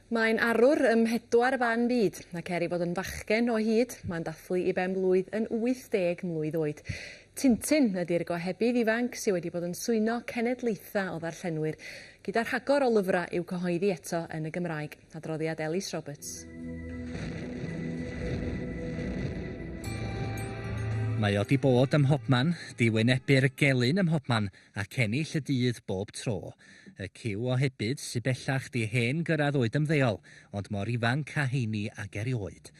Mae'n arwr ym mhedwar ban byd, ac er ei fod yn fachgen o hyd, mae'n dathlu ei ben-blwydd yn 80 mlwydd oed. Tintin ydi'r gohebydd ifanc sydd wedi bod yn swyno cenedlaethau o ddarllenwyr, gyda rhagor o lyfrau i'w cyhoeddi eto yn y Gymraeg. Adroddiad Ellis Roberts. Mae o 'di bod ym mhobman, 'di wynebu'r gelyn ym mhobman, ac ennill y dydd bob tro. Y cyw ohebydd, sy bellach 'di hen gyrradd oed ymddeol, ond mor ifanc a heini ag erioed.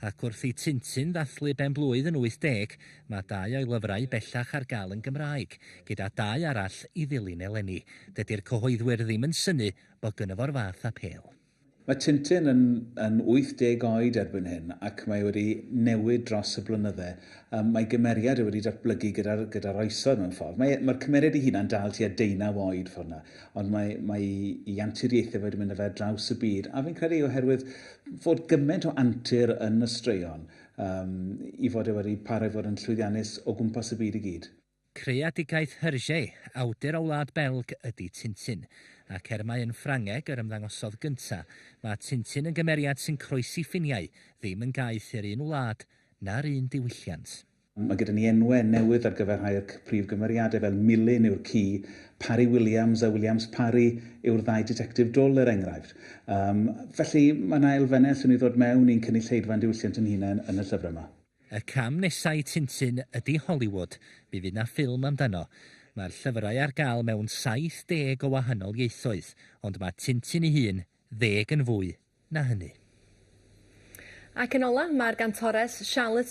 Ac wrth i Tintin ddathlu ben-blwydd yn 80, mae dau o'i lyfrau bellach ar gael yn Gymraeg, gyda dau arall i ddilyn eleni. Dydi'r cyhoeddwyr ddim yn synnu bod gynno fo'r fath apêl. Mae Tintin yn yn 80 oed erbyn hyn ac mae wedi newid dros y blynydde. Yym mae gymeriad e wedi datblygu gyda'r gyda'r oesoedd mewn ffordd. Mae e, mae'r cymeriad ei hunan dal tua deunaw oed ffordd 'na, ond mae mae 'i anturiaethe fe wedi mynd â fe ar draws y byd, a fi'n credu oherwydd fod gyment o antur yn y straeon, yym 'i fod e wedi parhau fod yn llwyddiannus o gwmpas y byd i gyd. Creadigaeth Hergé, awdur o Wlad Belg, ydy Tintin, ac er mai yn Ffrangeg yr ymddangosodd gynta', mae Tintin yn gymeriad sy'n croesi ffiniau, ddim yn gaeth i'r un wlad na'r un diwylliant. Mae gyda ni enwau newydd ar gyfer rhai o'r prif gymeriadau fel Milyn yw'r ci, Parry Williams a Williams Parry yw'r ddau ditectif dwl er enghraifft. Yym, felly, mae 'na elfennau allwn ni ddod mewn i'n cynulleidfa'n diwylliant ein hunain yn y llyfrau 'ma. Y cam nesa i Tintin ydi Hollywood, mi fydd 'na ffilm amdano. Mae'r llyfrau ar gael mewn 70 o wahanol ieithoedd, ond mae Tintin ei hun ddeg yn fwy na hynny. Ac yn ola, mae'r gantores Charlotte